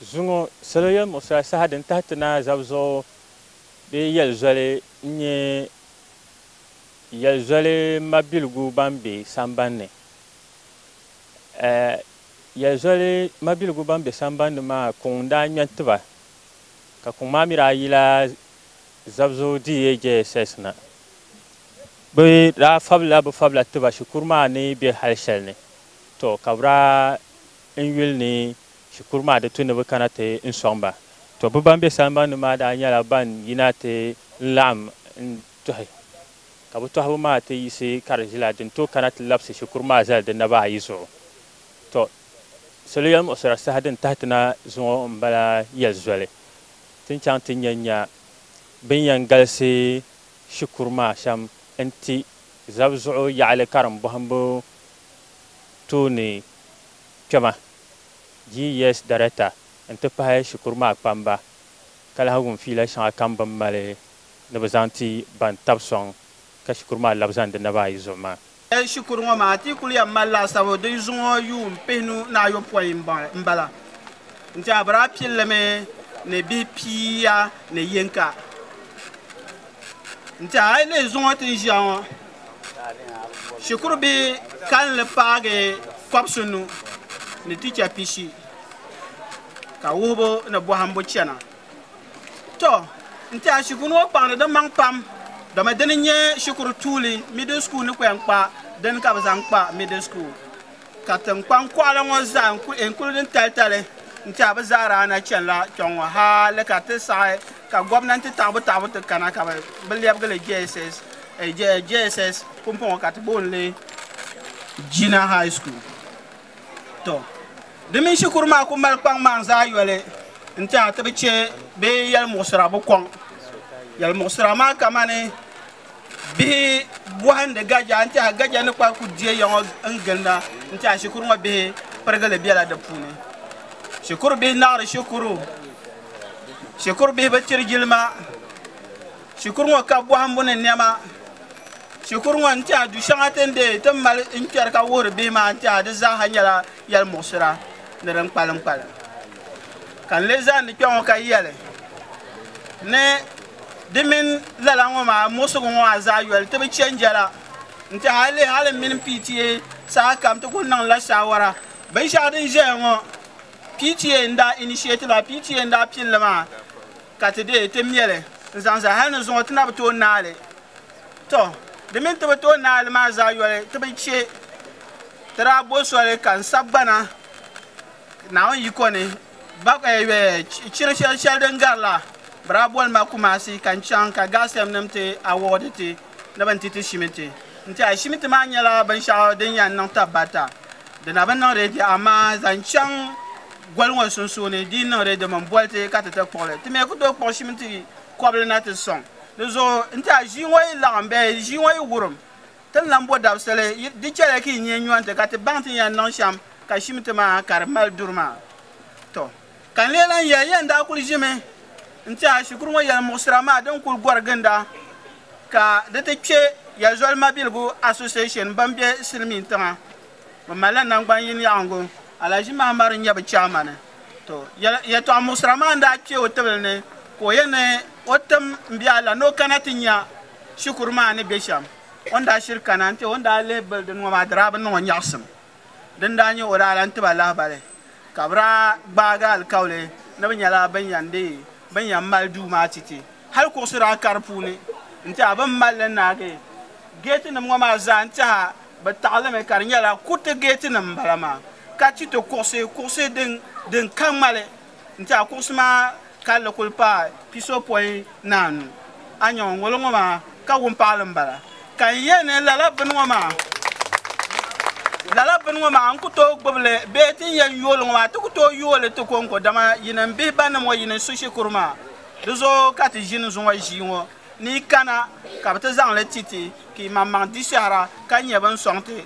Zuŋɔ salo yɛlimuɣisiri asaha din tahi ti naa zabi zuɣu bee yɛli zoli n-nyɛ yɛli zoli mabiligu ban be sambani ni. Yɛli zoli mabiligu ban be sambani ni maa kuŋ n-daa ŋmɛ n-ti ba ka kuŋ maa mi daa yila zabi zuɣu DAJSS na. Bɛ daa fabila bɛ fabila ti ba shikuru maa ni be hali shɛli ni, tɔ ka bɛ daa N yuli ni shikuru maa di tu ni bɛ kana ti n sɔŋ ba. Tɔ! Bɛ ban be samban ni maa daa nyɛla ban yina ti n laɣim n tɔhi, ka bɛ tɔhibu maa ti yiɣisi ka di ʒila din tooi kana ti labisi shikuru maa zali di naba ayi zuɣu. Tɔ! Salo yɛlimuɣisira saha din tahi ti na zuŋɔ m-bala yɛli zoli ti ni chaŋ ti nya nya bɛ ni yɛn galisi shikuru maa shɛm n-ti zab zuɣu yaɣili karimbɔhimbu tooni kpɛma, GES Darekta n-ti pahi shikuru maa kpamba ka lahi wum fiila shɛŋa kam bɛ ni mali ni bɛ zaŋ ti ban tab sɔŋ ka shikuru maa labi zani di naba ayi zuɣu maa. Shikuru ŋɔ maa ti kul yɛn mali laasabu din zuŋɔ yuun pihinu ni ayopɔin m-bala nti a bira pilli mi ni bihi pia ni yinka nti a yi lihi zuŋɔ ti ni ʒiya ŋɔ. shikuru bihi kalinli paagi kɔbisunu ni ticha pishi ka wuhibu ni bɔhimbu chana to n tiɛha shikuru ŋɔ kpaŋdi di maŋ pam dama dini n-nyɛ shikuru tuuli middle school ni kpɛn kpa dini ka bɛ zaŋ kpa middle school Ka tinkpaŋ kɔɣila ŋɔ zaa n kuli din talitali n-ti a bɛ zaa daa na chani la kpiɔŋ ŋɔ hali ka ti saɣi ka gomnanti taɣibu taɣibu ti kana ka bɛ lɛbigi li JSS pumpɔŋɔ ka ti booni li Jina High School tɔ di mini shikuru maa kuli mali kpaŋ maŋ zaa yoli n-ti a ti bi che bee yɛlimuɣisira bi kɔŋ yɛlimuɣisira maa kamani. bihi bɔhindi gaja n tiɛha gaja ni kpahi ku diɛ ya ŋɔ n ginda n tiɛha shikuru ŋɔ bihi pirigili bɛla di puuni shikuru bihi naɣiri shikuru shikuru bihi bi tiri jilima shikuru ŋɔ ka bɔhimbu ni niɛma shikuru ŋɔ n tiɛha du shɛŋa ti ni deei ti mali n kpɛri ka wuhiri bihi maa n tiɛha di zaaha nyɛla yɛli muɣisira ni din kpalim kpalim ka n lee zani kpɛ ŋɔ ka yɛli ni Di mini lala ŋɔ maa muɣisigu ŋɔ maa zaa yoli ti bi chɛ n-jɛla nti hal leei hal m mini PTA sahakam ti kul niŋdila shaawara. Binshɛɣu din ʒɛya ŋɔ PTA n-daa initiate li maa, PTA n-daa pini li maa ka ti deei ti mɛ li n-zaŋ zali hal ni zuŋɔ ti na bi tooi naai li. Tɔ! Di mini ti bi tooi naai li maa zaa yoli ti bi chɛ ti daa bo soli ka n sagbana Naawuni yiko ni Chiri shɛli shɛli din garila bɛ daa boli ma Kumasi ka n chaŋ ka Gasm nim ti awɔdi ti ni bɛ ni ti ti Shimiti. N-ti a Shimiti maa nyɛla binshɛɣu din yɛn niŋ tab barita. Di na bi niŋ reedi amaa zaŋ chaŋ goli ŋɔ sunsuuni di yi niŋ reedi min boli ti ka ti ti kpuɣi li. Ti mi ku tooi kpuɣi Shimiti kɔbili na ti sɔŋ di zuɣu. N-ti a ʒii ŋɔ yi laɣim bee ʒii ŋɔ yi wurim. Ti ni lan bo dabisili, di chɛliya ka yi nya nyɔri ti ka ti baŋ ti ni yɛn niŋ shɛm ka shim ti maa ka di mali duri maa. Tɔ! Ka n lee lan yɛli ya, n daa kul ʒimi n-tɛha shikuru ŋɔ yɛlimuɣisira maa din kul gɔri ginda ka di ti kpe ya zoli mabiligu Association bɛn be silimiin tiŋa. Bɛ malila naŋgban yin yaɣiŋgu. Alaji Mahamadu n-nyɛ bɛ chaamani. Tɔ! Yɛtɔɣ muɣisira maa n-daa kpe o tibili ni ka o yɛn ni o tim m-be a la ni o kana ti nya Shikuru maa ni be shɛm, o ni daa shiri kana nti o ni daa lihi bili din ŋɔ maa di daa bi niŋ o nyaɣisim. Din daa nyɛ o daa lan ti ba lahibali ka bɛ daa gbaagi alikauli ni bɛ nyɛla bɛn yɛn di bɛn yɛn mali duu maa ti ti. Hali kuɣisi daa ka di puuni nti a bɛn mali li naagi geetinim ŋɔ maa zaa nti a bɛ taɣilimi ka di nyɛla kuriti geetinim m-bala maa ka ti ti kuɣisi kuɣisi din ka ŋmali. N-ti a kuɣisi maa kalli kul paai pisopɔin ni anu. A nya o ŋolo ŋɔ maa ka wumpaɣili m-bala. Ka n yɛli ni lala bini ŋɔ maa, lala bini ŋɔ maa n ku tooi gbibi li bee ti ni yɛn yooi li ŋɔ maa ti ku tooi yooi li ti kɔŋko dama yi ni m-bihi ba ni mɔ yi ni su shikuru maa di zuɣu ka ti ʒini zuŋɔ ʒii ŋɔ ni yi kana ka bɛ ti zaŋ li ti ti ka yi maŋmaŋ di shɛhira ka nyɛ bɛ ni sɔŋ ti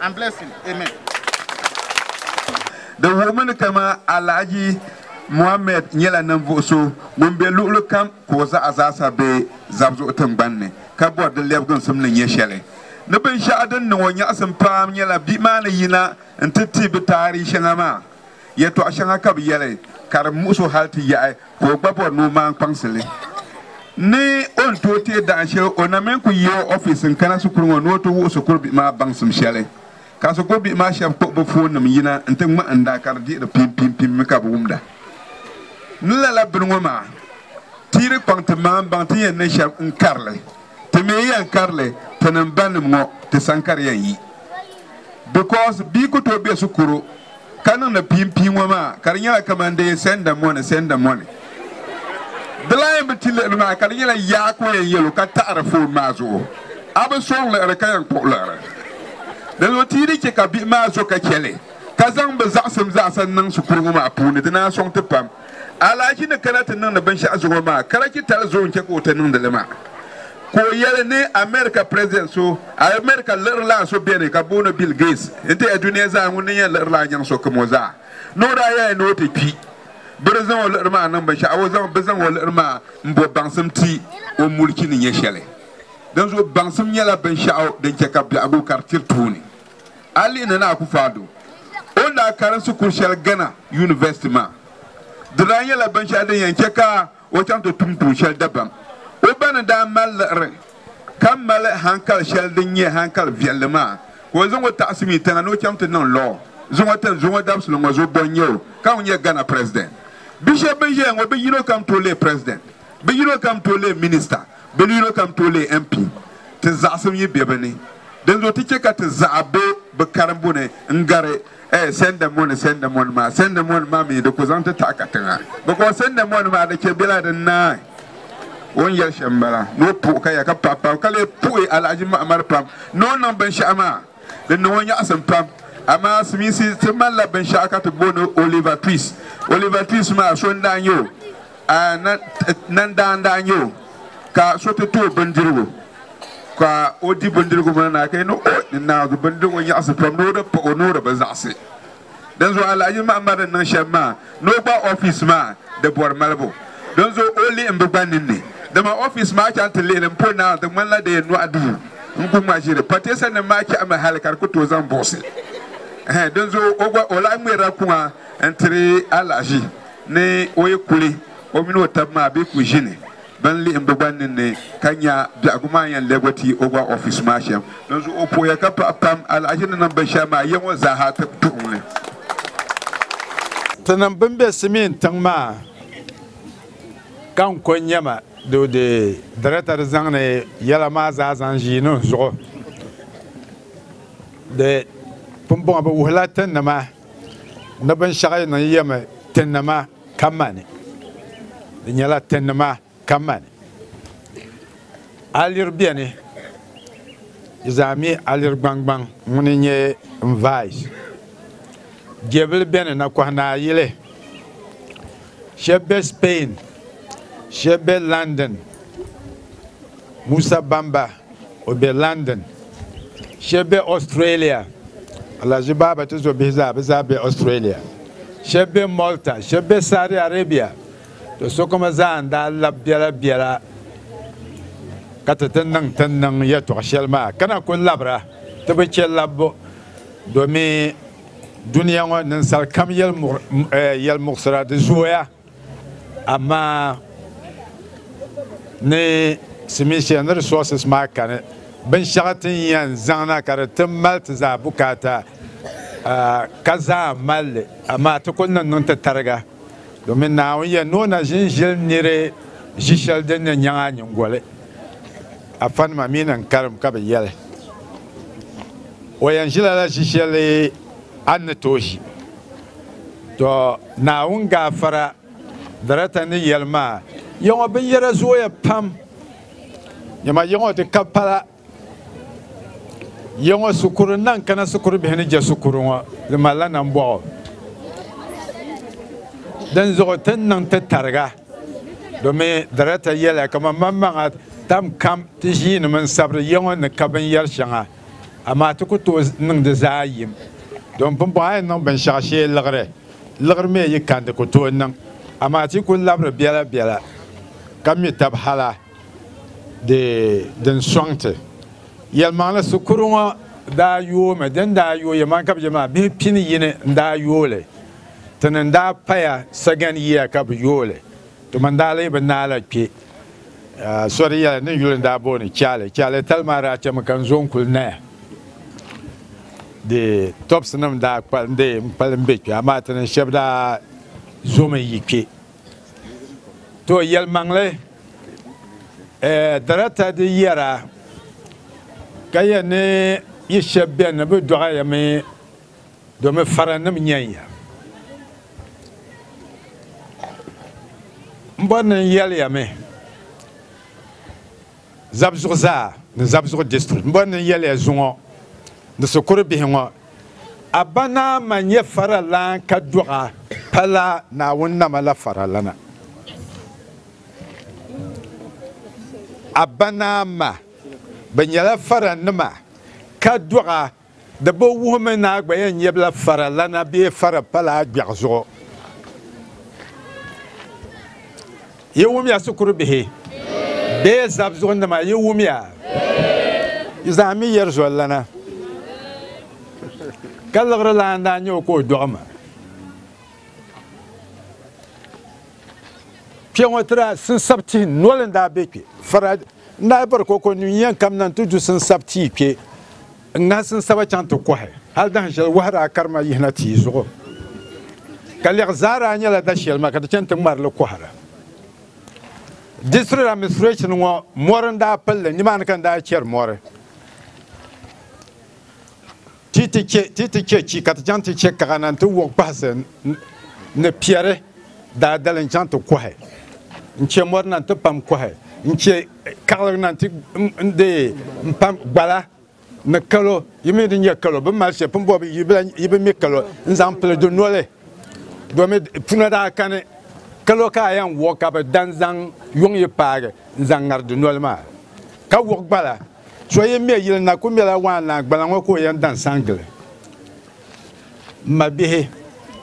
and bless him. Amen. Di wuhimi ni kama Alhaji Mohammed nyɛla ninvuɣu so ŋun be luɣuli kam ka o zaɣa zaasa be Zabzuɣu tingbanni ka bɔri di lɛbiginsim ni nyɛ shɛli ni binshɛɣu din niŋ o nyaɣisim paam nyɛla bia maa ni yina n-ti ti bɛ taarihi shɛŋa maa. Yɛtɔɣ shɛŋa ka bɛ yɛli ka di muɣis o hal ti yaɣi ka o gba bɔri ni o maan kpaŋsi li. Ni o ni tooi teei dahin shɛli, o namin ku yi o ofiis n-kana shikuru ŋɔ ni o ti wuhi shikuru bihi maa baŋsim shɛli. Ka shikuru bihi maa shɛb kpuɣi bɛ foonnim yina nti ŋmahinda ka di dihiri piimpiimpiim mi ka bɛ wumda ni lala bini ŋɔ maa tiiri kpaŋ ti maanbaŋ ti ni yɛn niŋ shɛm n-kari li. Ti mi yɛn karili tinim banim ŋɔ ti san ka di yɛn yi because bia ku tooi be shikuru ka niŋdi piinpii ŋɔ maa ka di nyɛla kaman dee send the money send the money di lan yɛn bi ti liɣiri maa ka di nyɛla yaa ka o yɛn yɛl o ka taɣiri phone maa zuɣu a bi sɔŋ liɣiri ka yɛn kpuɣi liɣiri dinzuɣu ti yi di chɛ ka bihi maa zo ka chɛ li ka zaŋ bɛ zaɣisim zaasa n-niŋ shikuru ŋɔ maa puuni di ni a sɔŋ ti pam. Alahaji ni kana ti niŋdi binshɛɣu zuŋɔ maa, Karachi tali zoo n-chɛ ka o ti niŋdi li maa, ka o yɛli ni America President so, America lirila so beni ka booni Bill Gates n-ti ya dunia zaa ŋun ni yɛn lirila nyaŋ so kim o zaa. Ni o daa yɛli ni o ti kpi, bɛ di zaŋ o liɣiri maa niŋ binshɛɣu, o zaŋ bɛ zaŋ o liɣiri maa m-bo baŋsim ti o mulichi ni nyɛ shɛli. Dinzuɣu baŋsim nyɛla binshɛɣu din chɛ ka biɛhigu kari tiri tooni. A lihi Nana Akuffo Addo o ni daa karimsi kur shɛli Ghana University maa, di daa nyɛla binshɛli din yɛn chɛ ka o chaŋ ti tum tuun shɛli dabam. O ba ni daa mali liɣiri ka mali hankali shɛli din nyɛ hankali viɛlli maa ka o zaŋ o taɣisi mi tiŋa ni o chaŋ ti niŋ lɔɔ zuŋɔ tin zuŋɔ dabisili ŋɔ zuɣu bɔ n-nyɛ o ka ŋun nyɛ Ghana President. Bi shɛb bɛn ʒiya ŋɔ bi yino kam tooi leei President, bi yino kam tooi leei Minister. Bɛ ni yino kam tooi leei MP, ti zaɣisim yi be bɛ ni. Dinzuɣu ti chɛ ka ti zaɣa be bɛ karimbu ni n-gari eh Sendemoni, Sendemoni maa. Sendemoni maa mi di ku zaŋ ti taɣi katiŋa. Bɛ kɔŋ Sendemoni maa di chɛ bela din naai. O ni yɛli shɛm m-bala ni o puhi kaya ka pahi pam, ka lee puhi Alahaji Mahamadu pam ni o niŋ binshɛɣu maa. Di niŋ o nyaɣisim pam. Amaa Simisi ti malila binshɛɣu ka ti booni Oliver Twist. Oliver Twist maa so n-daa nyɛ o. Nandaa n daa nyɛ o ka so ti too bindirigu ka o di bindirigu maa na ka ni o ni naawuni bindirigu nyaɣasi pam ni o di paɣi o ni o di bi zaɣisi dinzuɣu Alhaji Mahamad ni niŋ shɛm maa ni o gba ofiisi maa di bɔri malibu dinzuɣu o lihi m-bi gba ninni dama ofiisi maa chaŋ ti lihi li m-po naawuni di ŋmanila di yɛn nɔɣi duu n ku ŋma ʒiri pateesa nim maa chɛhimi hali ka di ku tooi zaŋ buɣisi dinzuɣu o gba o lahi ŋmɛrila kuŋa n-tiri Alhaji Ni o yi kuli, o mini o tab maa bɛ ku ʒini bɛn lihi m bugban ninni ka nya biɛhigu maa yɛn lɛbigi ti o gba ɔfis maa shɛm. Dinzuɣu o pooya ka paɣi pam alahichi ni niŋ binshɛli maa ya ŋɔ zaa ha tuɣiŋ li. Tinim bɛn be Simien tiŋ maa ka n ko nya ma doo di Darata di zaŋdi yɛla maa zaa zaŋ ʒii niŋ zuɣu di pumbɔŋɔ bɛ wuhila ti ni ma. ni binshɛɣu yi niŋ yɛmi ti nima ka mani di nyɛla ti nima ka mani aliri bɛni yi zaa mi aliri gbaŋgbaŋ ŋuni nyɛ n vais jɛbili bɛni na kɔhi naa yili shɛbi bɛ spain shɛbi bɛ London Musa Bamba O be London. Shɛb be Australia. Alahaji Baaba ti zo bihi zaa, bɛ zaa be Australia. Shɛb be Malta, shɛb be Saudi Arabia. To sokoma zaa n-daa lab biɛla biɛla ka ti ti niŋ ti ni niŋ yɛtɔɣ shɛli maa, ka na kul labira ti bi chɛ labbu domin dunia ŋɔ ninsal kam yɛlimuɣisira di zooya. Amaa ni simi shɛli ni resources maa kani, binshɛɣu ti ni yɛn zaŋ na ka di ti mali ti zaa bukaata ka zaa mali li, amaa ti kul niŋ niŋ ti tariga domin Naawuni yɛn ni o na ʒin ʒili niri ʒi shɛli din ni nyaŋ a nyiŋgoli. Afanima mi ni n karim ka bɛ yɛli, O yɛn ʒila la ʒi shɛli a ni tooi ʒi. Tɔ! Naawuni gaafara darata ni yɛli maa, yiŋɔ binyɛra zooya pam, dama yiŋɔ ti ka pala yiŋɔ shikuru naŋ kana shikuru bihi ni je shikuru ŋɔ, di malila nambɔɣu. Dinzuɣu ti ni niŋ ti tariga, domi darata yɛliya kaman maŋmaŋa tam kam ti ʒiinimi n-sabiri yiŋɔ ni ka binyɛr shɛŋa. amaa ti ku tooi niŋ di zaa yim. Don pumpɔŋɔ a yi niŋ binshɛɣu shee liɣiri, liɣiri mi yi kan di ku tooi niŋ, amaa ti ku labiri biɛla biɛla ka mi tab hala di din sɔŋ ti. Yɛlimaŋli sikuru ŋɔ daa yoomi, din daa yooi yɛlimaŋli ka bɛ je maa bih pini yini n-daa yooi li, ti ni daa paya sagani yiya ka bɛ yooi li. Ti mani daa lee bi naai la kpe so di yɛla ni yuli n-daa booni Kyale. Kyale tali maa daa chɛmi ka n-zo n-kuli naya di tɔbisinim daa kpalindi m-kpalim be kpe amaa ti ni shɛba daa zomi yi kpe. Too yɛlimaŋli darata di yɛra ka yɛn ni yi shɛba beni ni bɛ dɔɣi ya mi Domi faranim nyɛnya m-bɔri ni n yɛliya mi Zabzugu zaa ni Zabzugu district m-bɔri ni n yɛliya zuŋɔ ni shikuru bihi ŋɔ Abanama nyɛ faralan ka dɔɣa pala Naawuni nama la faralana. Abanama bɛ nyɛla faranima ka dɔɣa. Di bi wuhi mi ni a gba yɛn nyɛbila fara lana bee fara pala a gbiɛɣu zuɣu. Yi wumya shikuru bihi bee zab zuɣu nima yi wumya yi zaa mi yɛri zoli lana ka liɣiri lana daa nyɛ o ka o dɔɣi ma. Kpɛŋɔ tira sinsab tihi noli n daa be kpɛ. Fara N daa bɔri ka o kɔŋ nyu yɛn kamina nti du sinsab tia kpe n-ŋahi sinsaba chaŋ ti kɔhi hal dahin shɛli wahu daa kari ma yihina tia zuɣu. Ka lɛɣu zaa daa nyɛla da shɛli ma ka ti chani ti ŋmari li kɔhira. District administration ŋɔ mɔri n-daa pili li, nimaani ka n daa chɛri mɔri. Ti ti chɛ, ti ti chɛ chi ka ti chaŋ ti chɛ kaɣa na nti wuɣi kpahisi ni piɛri daadali n-chaŋ ti kɔhi. N-chɛ mɔri na nti pam kɔhi, n-chɛ kaɣili na nti n-deei m-pam gbala ni kalo, yi mi di nyɛ kalo, bɛ ni mali shɛli pun bɔbi yi bi mi kalo n-zaŋ pili di noli domin puna daa kani kalo ka a yɛn wuɣi ka bɛ dan zaŋ yuŋ yi paagi n-zaŋ ŋari di noli maa ka wuɣi gbala. So yi me yili na ku mela waan naa gbala ŋɔ ka o yɛn dan san gili. M ma bihi,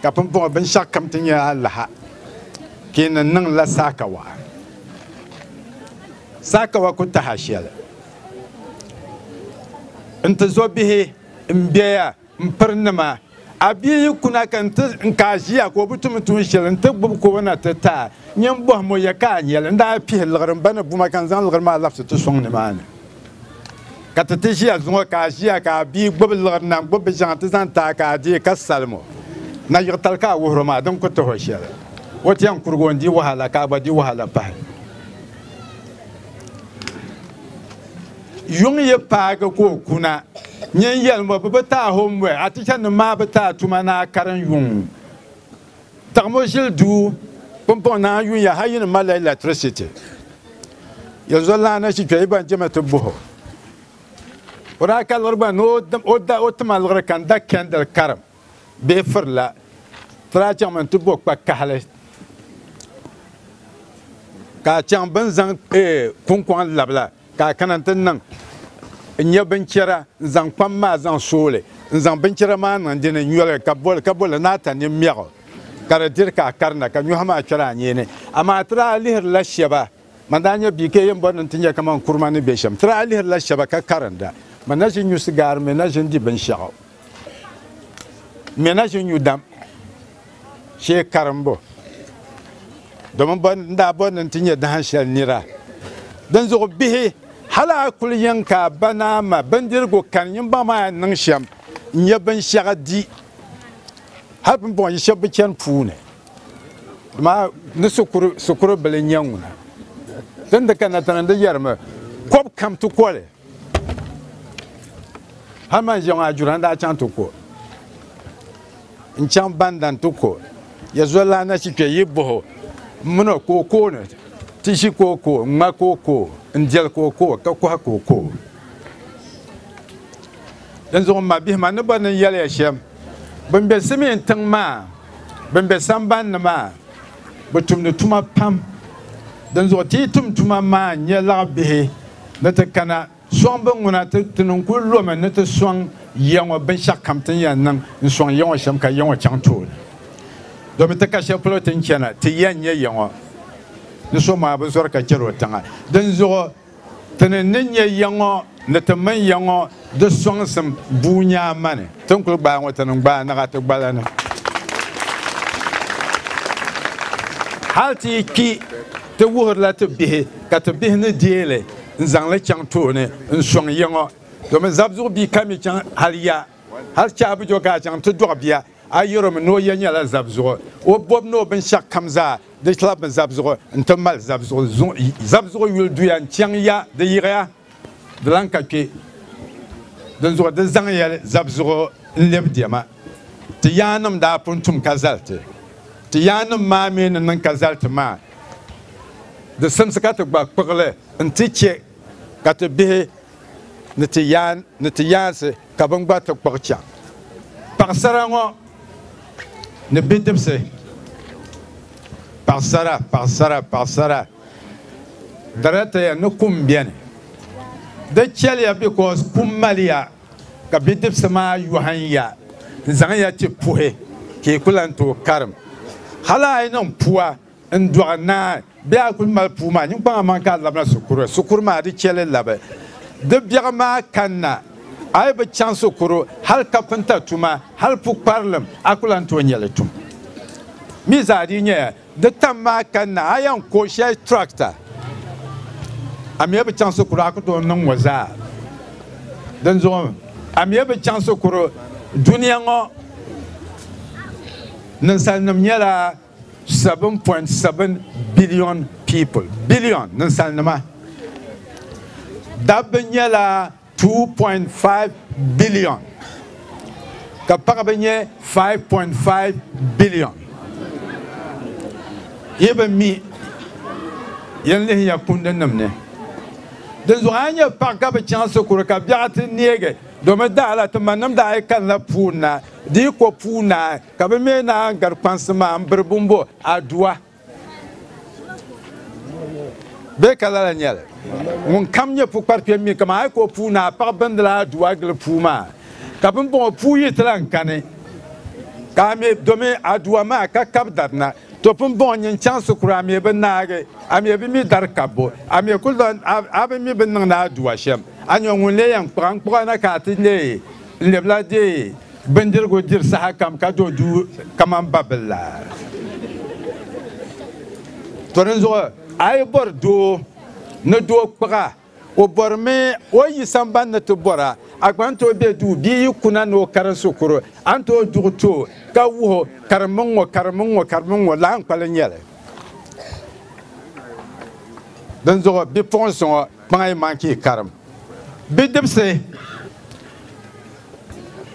ka pumpɔŋɔ binshɛɣu kam ti nyɛ alaha ka yi ni niŋ la saakawa. Saakawa ku tahi a shɛli. N ti zo bihi m be ya. M pirinima, a bia yi kuna ka n ti ka a ʒiya ka o bi tum tuun shɛli n ti gbubi ka o na ti ti a, nyɛ m bɔhim o ya ka a nya li. N daa pihi liɣiri m ba ni buma ka n zaŋ liɣiri maa labisi ti sɔŋ nimaani ka ti ti ʒiya zuŋɔ ka a ʒiya ka a bia gbubi liɣiri na n-gbubi biʒiɛŋ ti zaŋ ti a ka a deei ka salim o. Na yiɣitali ka a wuhir o maa, di ni ku tih o shɛli. O ti yɛn kurigi o n-di wahala ka a gba di wahala pahi. Yuŋ yi paagi ka o kuna, nyin yɛli mo bɛ bi taai o m-bɔhi a tichanim maa bi taai tuma ni a karin yuŋ. Taɣimo ʒili duu pumpɔŋ ni a yuya hal yi ni malila ilɛtirisiti. Yɛli zolana ni chi kpe yi ban chɛmi ti buh o. O daa ka liɣiri gba ni o ti ma liɣiri ka n-da kɛndil karim bee firila. Ti daa chaŋmi nti bo kpa kahili ka a chaŋ bɛ ni zaŋ kuŋkɔŋ labi la. Ka a kana nti niŋ n nya binchɛra n-zaŋ kpam maa zaŋ so li, n-zaŋ binchɛra maa niŋ di ni nyɔ li, ka bɔ li, ka bɔ li ni a ta nini mɛɣ o, ka di diri ka a karina, ka nyɔhi maa kpɛri a nyee ni. Amaa ti daa lihirila shɛba, man daa nya bia ka yɛn bɔri ni nti nya kaman kuruma ni be shɛm, ti daa lihirila shɛba ka karinda, man na ʒi nyusi gaari mi na ʒi n-di binshɛɣu. Mɛ na ʒi nyu dam shee karimbu, domin bɔ n daa bɔri ni n ti nyɛ dahin shɛli nira. Dinzuɣu bihi, hal a kul yɛn ka a ba ni a ma bindirigu kani nyimbaŋ maa yɛn niŋ shɛm n-nyɛ binshɛɣu di. Hal pumpɔŋɔ yi shɛb bi chani puu ni. Dama ni sikuru bili n-nyɛ ŋuna. Ti ni di kanna tiŋa n-di yɛrimi, kɔb kam ti koli. hali man ʒiɛŋɔ ajura n daa chaŋ ti ko n chaŋ bandan ti ko ya zolila na shi kpɛ yi boho n mini o ko ko ni ti ʒi ko ko n ŋma ko ko n deli ko ko ka kohi ko ko din zuɣu ma bihi ma ni bɔ ni yɛliya shɛm bin bɛ simiin tiŋ maa bin bɛ samban ni maa bi tumdi tuma pam din zuɣu ti yi tum tuma maa n nyɛ laɣa bihi ni ti kana sɔŋ bin ŋuna, ti ti niŋ kul lomi ni ti sɔŋ ya ŋɔ binshɛɣu kam ti ni yɛn niŋ n-sɔŋ ya ŋɔ shɛm ka ya ŋɔ chaŋ tooni. Domin ti ka shɛli polo ti ni chana, ti yɛn nya ya ŋɔ ni so maa bi zɔri ka chɛr o tiŋa. Dinzuɣu ti ni ni nya ya ŋɔ ni ti mini ya ŋɔ, Di sɔŋsim bua nyaa mani ti ni kuli gbaai ŋɔ ti niŋ gbaai naɣa ti gbala ni. Hal ti yi kpi ti wuhirila ti bihi ka ti bihi ni deei li n-zaŋ li chaŋ tooni n-sɔŋ ya ŋɔ. Domin zabizuɣu bia ka mi chaŋ hal ya. Hal Chaabujo ka a chaŋ ti dɔɣi bia, a yɛr o mi ni o ya nyɛla zabizuɣu. O bɔbu ni o binshɛɣu kam zaa di labimi zabizuɣu n-ti mali zabizuɣu. Zabizuɣu yuli duya n-chaŋ ya di yiɣiya. Di lan ka kpe dinzuɣu di zaŋ yɛli zabzuɣu n-lɛbi diɛma. Ti yaannim daa pun tum ka zali ti. Ti yaannim maa mi ni niŋ ka zali ti maa, di simsi ka ti gba kpuɣi li nti chɛ ka ti bihi ni ti yaan ni ti yaansi ka bɛn gba ti kpuɣi chaŋ. Paɣisara ŋɔ ni bidibisi. Paɣisara, paɣisara, paɣisara. Dara taya ni kum beni. Di chɛliya because kum maliya ka bidibisi maa yɔhim ya n-zaŋ ya ti puhi ka yi ku lan tooi karim. Hal a yi niŋ pua n-dɔɣi naai bee a kul mali puu maa niŋkpaŋ aman ka a labina sukuru, sukuru maa di chɛli labi. Di biɛɣu maa kanna a yi bi chaŋ sukuru hal kapinta tuma hal pukparilim a ku lan tooi nya li tum. Mii zaa dii nyɛya Di tam maa ka na a yɛn ko shɛli tractor a mi bi chaŋ sikuru a ku tooi niŋ ŋɔ zaa. Dinzuɣu a mi bi chaŋ sikuru dunia ŋɔ ninsalinim nyɛla 7.7 billion people, billion ninsalinima. Dabba nyɛla 2.5 billion ka paɣaba nyɛ 5.5 billion. Yi bi mi, yen lihiya kundinim ni. Dinzuɣu a nya paɣ ka bi chaŋ sikuru ka biɛɣu ti neegi domi daa la ti manim daa yi kanila puunaai di yi ko puunaai ka bi me naan gari kpansi maa m-biri bumbo Adua. Bee ka lala nyɛli ŋun kam nyɛ pukparikpɛm mi kaman ayi ka o puu ni a paɣi bindila a du a gili puu maa ka bimbɔŋɔ puu yi ti lan kani ka a mi domi a duwa maa ka kab dari na to bimbɔŋɔ nyin chaŋsi kura a mi bi naagi a mi bi mi dari kabbu a mi ku lan a bi mi bi niŋdi a duwa shɛm a nyɔ ŋun lee yɛn kpuɣa n kpuɣa na ka a ti leei n lebila deei Bindirigu diri sahakam ka do duu kamani babil la. To dinzuɣu a yi bɔri doo ni doo kpiɣa, o bɔrimi o yi sambani ni ti bɔra, a gba ni tooi be duu bee yi kuna ni o karim shikuru, a ni tooi duɣi ti o ka wuhi o, Karimmi ŋ-ŋɔ, karimmi ŋ-ŋɔ, karimmi ŋ-ŋɔ, lahinkpali n-nyɛ li. Dinzuɣu bipuɣinsi ŋɔ! Kpaŋa yi man ka yi karim. Bidibisi,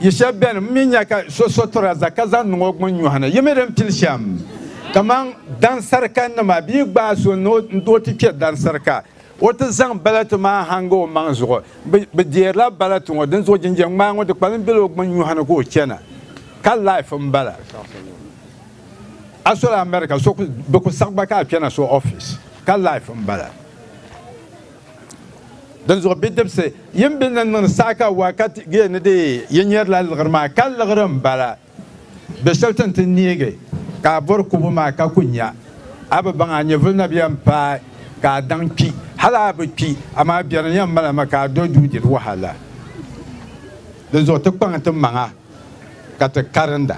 yi shɛb beni m mi nya ka so so tiraza ka zaŋ niŋ o gbin nyɔhi ni, yi mi di n-pili shɛm. Kaman dansarikannima, bɛ yi gbaai so ni o ti kpe dansarika, o ti zaŋ balatu maa hanga o maŋ zuɣu. Bɛ deerila balatu ŋɔ, dinzuɣu jinjam ŋmaa ŋɔ di kpalim bela o gbin nyɔhi ni ka o chana. Ka life m-bala. A sola America, so ku, bɛ ku saɣi gba ka a kpe na so office. Ka life m-bala. Dinzuɣu bidibisi, yin be ni niŋdi saha ka wakati gee ni di yi nyɛrila liɣiri maa, ka liɣiri m-bala. Be shɛli ti ni ti neegi ka a bɔri kubu maa ka ku nya, a bi baŋ a nyɛvili na bɛn paai ka a daŋ kpi. Hal a bi kpi, amaa biɛri yɛn mali ma ka a do duu diri wahala. Dinzuɣu ti kpaŋ ti maŋa ka ti karinda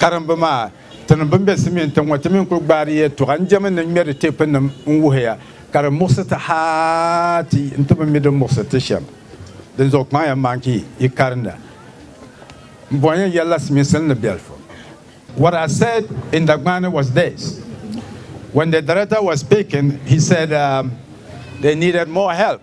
karimbu maa. Tinim bɛn be Simeon tiŋ ŋɔ, ti mi n-kul gbaari yɛltɔɣa n-jɛmi ni ŋmɛri teepinim n-wuhi ya, ka di muɣisi ti haa ti yi nti bi mi din muɣisi ti shɛm. Dinzuɣu kpaŋ ya maan ki yi karinda. M bɔn ya yɛlila simisil ni biɛlifu. What I said in Dagbani was this, When the director was speaking, he said they needed more help.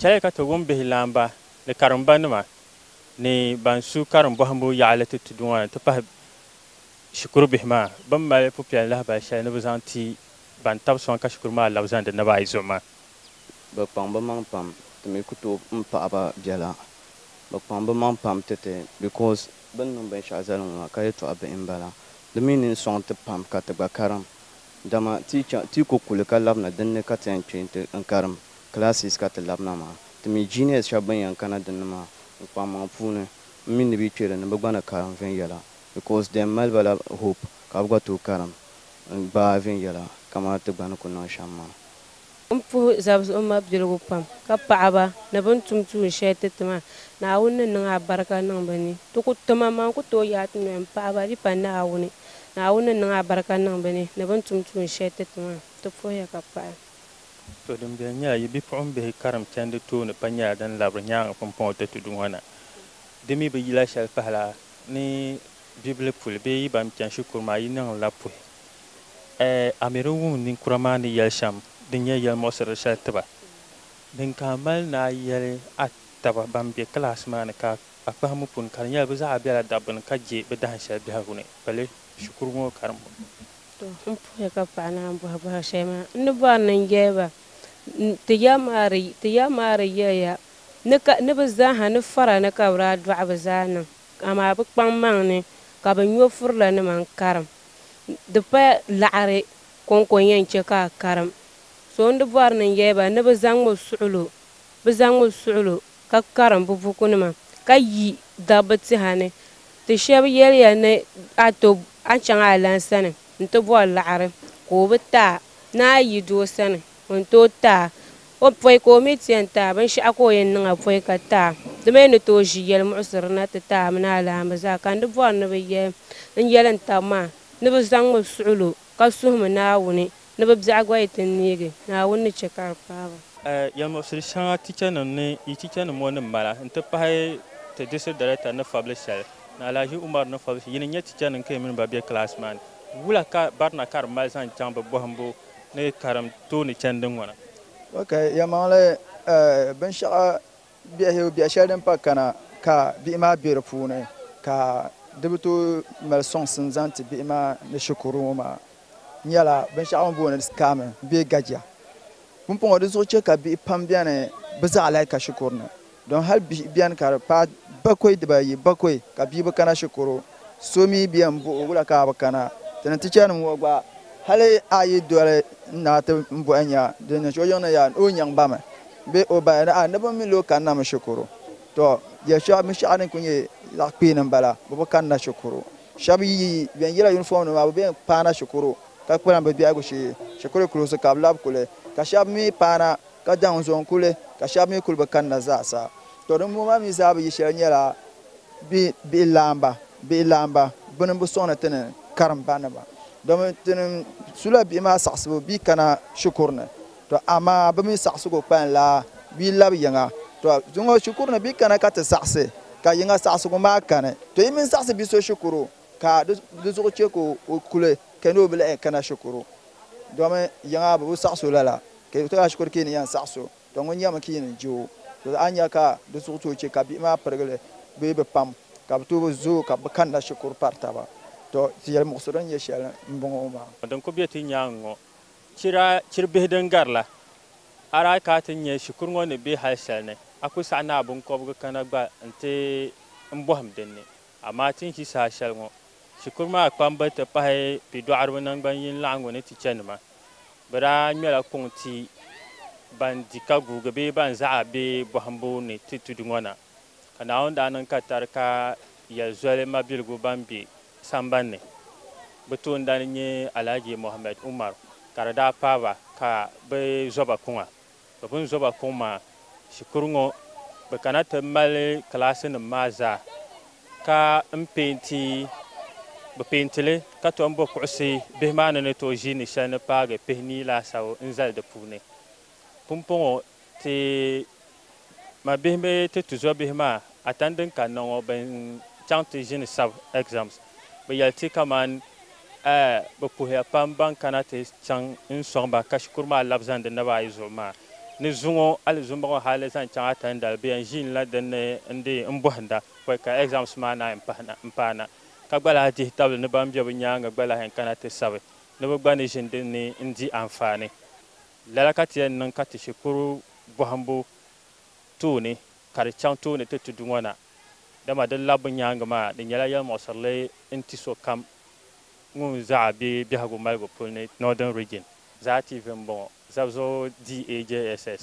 Chɛliya ka ti wum bihi laamba ni karimba nima ni ban su karim bɔhimbu yaɣili ti tudu ŋɔ ni nti pahi shikuru bihi maa bɛn mali pupiɛl lahibali shɛli ni bɛ zaŋ ti ban tab sɔŋ ka shikuru maa labi zaŋdi naba ayi zuɣu maa. Bɛ kpaŋ bɛ maŋ pam ti mi ku tooi m paɣi ba biɛla. Bɛ kpaŋ bɛ maŋ pam ti ti because bɛ ni niŋ binshɛɣu zali ŋɔ maa ka yɛltɔɣa bihi m bala. Di mi ni sɔŋ ti pam ka ti gba karim. Dama ti chaŋ ti ku kuli ka labina din ni ka ti yɛn kpe nti n karim classes ka ti labina maa. Ti mi juniors shɛba bɛn yɛn kana din ni maa n kpaŋ maŋ puuni m mi ni bɛ kpe li ni bɛ gba ni karim viɛnyɛla because di yɛn mali ba la hope ka bɛ gba tooi karim n gbaai viɛnyɛla kaman ti gba ni ku niŋ shɛm maa. N puhi zabizuɣu mabiligu pam, ka paɣi ba ni bɛ ni tum tuun shɛli ti ti maa. Naawuni ni niŋ abarika niŋ bɛ ni. Ti ku ti maŋmaŋ n-ku tooi yaai ti noli m-paɣi ba, di pa Naawuni. Naawuni ni niŋ abarika niŋ bɛ ni, ni bɛ ni tum tuun shɛli ti ti maa. Ti puhiya ka paɣi. To dimbela nyɛla yi bipuɣimbihi karim chandi tooni pa nyɛla din labiri nyaaŋa pumpɔŋɔ ti tudu ŋɔ na. Di mi bi yila shɛli pahila ni bibili puli bee yi ban chani shikuru maa yi niŋ la puhi. Ɛ! Amiri wum ninkura maa ni yɛli shɛm din nyɛ yɛlimuɣisirili shɛli ti ba. Din ka a mali ni a yɛli a taba ban be kilaasi maa ni ka a kpahimbu puuni ka di nyɛla bɛ zaa bela dabbu ni ka je bɛ dahin shɛli biɛhigu ni pali shikuru ŋɔ karimbu. Tɔ! M puhiya ka paɣa naan bɔhi bɔhiri shɛli maa, n ni bɔri ni n yɛli ba ti ya maa di yɛliya ni bɛ zaaha ni fara ni ka bɛ daa dɔɣi bɛ zaa niŋ amaa bɛ kpaŋmaŋ ni ka bɛ nyɔvurilanima n-karim Di pa laɣiri kɔŋko yɛn chɛ ka a karim. So n-di bɔri ni n-yɛli ba ni bɛ zaŋm o suɣilo, bɛ zaŋm o suɣilo ka karim bɛ bukunima, ka yi dabba tiha ni. Ti shɛba yɛli ya ni a ti a chaŋ a lan sani nti bɔri laɣiri, ka o bi ti a, ni a yi doo sani Ŋun tooi taai o pɔi ka o mi ti yɛn taai binshɛɣu ka o yɛn niŋ a pɔi ka taai, di mi ni tooi ʒi yɛlimuɣisiri na ti taai a mini a laamba zaa, ka n di bɔri ni bɛ yɛli n yɛli n taba maa ni bɛ zaŋmi suɣilo ka suhimi Naawuni ni bɛ biɛɣu gba yi ti neegi, Naawuni ni chɛ ka di paai ba. Yɛlimuɣisiri shɛŋa tichanim ni yi tichanim ŋɔ ni mala n-ti pahi ti District Director ni fabili shɛli ni Alhaji Umaru ni fabili shɛli yi ni nyɛ tichanim ka yi mini ba be class maa ni, wula ka barina ka di mali zaŋ chaŋ bɛ bɔhimbu ni karim tooni chani din ŋɔna. Ok, yɛlimaŋli binshɛɣu biɛhigu biɛhi shɛli din pa kana ka bihi maa be di puuni ka di bi tooi mali sɔŋsim zaŋ ti bihi maa ni shikuru ŋɔ maa nyɛla binshɛɣu bɛ ni booni scamming bee gajia. Pumpɔŋɔ di zuɣu chɛ ka bihi pam beni bɛ zaɣa laika shikuru ni. Don hal bihi beni ka di paai bakɔi dibaayi bakɔi ka bia bi kana shikuru so mi beni m-bɔh o wula ka a bi kana. Ti ni tichanim ŋɔ gba hali a yi doli n na ti m bɔhi nya di ni o yiŋni ya ni o nyaŋ ba mi bee o ba ni a ni bi mi li o kanna mi shikuru. Tɔ! Yɛl shɛb mi shɛh din kul nyɛ zaɣ kpeen m-bala, bɛ bi kanna shikuru. Shɛb yi bɛn yila yunifɔmnim maa bɛ bɛn paana shikuru ka kpalim bɛ biɛhigu shee. Shikuru kulisi ka bɛ labi kuli, ka shɛb mi paana ka daŋ zo n-kuli, ka shɛba mi kuli bi kanna zaasa. Tɔ dimbɔŋɔ maa mi zaa bi yi shɛli nyɛla bɛ bihi laamba, bihi laamba bini m-bi sɔŋ ni ti ni karim ba nima. Domi ti ni su la bihi maa saɣisibu bɛ yi kana shikuru ni, tɔ amaa bɛ mi saɣisigu kpalim la bɛ yi labi yiŋa. Tɔ zuŋɔ shikuru ni bɛ yi kana ka ti saɣisi, ka yiŋa saɣisigu maa kani, tɔ yi mini saɣisi bi so shikuru ka di zuɣu chɛ ka o kuli kani o bi lahi kana shikuru domi yiŋa bɛ bi saɣis o lala. Ka yi tɔhi a shikuru ka yi ni yɛn saɣi so, tɔ ŋun yɛlimi ka yi ni je o, tɔ a ni nya ka di zuɣu tooi che ka bihi maa pirigi li bee bi pam, ka bi tooi bi zooi ka bi kanna shikuru pari taba, tɔ ti yɛli muɣisiri ni nyɛ shɛli m-bɔŋɔ maa. Din kuli be ti nyaaŋa ŋɔ, chir a chir bihi din gari la, a daa ka a ti nya shikuru ŋɔ ni be hal shɛli ni, a kuli saɣi ni a biŋkɔbigu kana gba nti n bɔhim din ni. Amaa ti ni ʒi saha shɛli ŋɔ, shikuru maa kpamba ti pahi pidɔɣiriba naŋgban yini laɣingu ni ti chanima, Bɛ daa ŋmɛla kuŋ ti ban di ka guugi bee ban zaɣi bɛ bɔhimbu ni ti tudu ŋɔ na. Ka Naawuni daa niŋ ka tari ka yɛli zoli mabiligu ban be samban ni. Bɛ toondana n-nyɛ Alhaji Mohammed Umaru ka di daa paai ba ka bɛ zo ba kuŋa. bɛ bini zo ba kuŋ maa, shikuru ŋɔ bɛ kana ti mali kilaasinim maa zaa ka m peenti bɛ peenti li ka tom bo kuɣisi bihi maa ni ni tooi ʒiini shɛli ni paagi pihini laasabu n-zali di puuni. Pumpɔŋɔ ti ma bihi bee ti tuzo bihi maa A tani din kanna ŋɔ bɛn chaŋ ti ʒini sab exams bɛ yɛli ti kaman eh bɛ puhiya pam ban kana ti chaŋ n sɔŋ ba ka shikuru maa labi zani di naba ayi zuɣu maa ni zuŋɔ hali zuŋɔ ŋɔ hali zaŋ chaŋ a tani dali bɛ yɛn ʒiin la din ni n di n bɔhinda pɔi ka exams maa naai n paana ka gba lahi dihi tabili ni ban be bɛ nyaaŋa gba lahi yɛn kana ti sabi ni bɛ gba ni ʒini din ni n di anfaani lala ka ti yɛn niŋ ka ti shikuru bɔhimbu tooni ka di chaŋ tooni ti tudu ŋɔ na, dama di labbu nyaaŋa maa di nyɛla yɛlimuɣisirili n-ti sokam ŋun zaɣa be biɛhigu maligu puli ni Northern Region. Zaa TV m-bɔŋɔ, zab zuɣu DAJSS.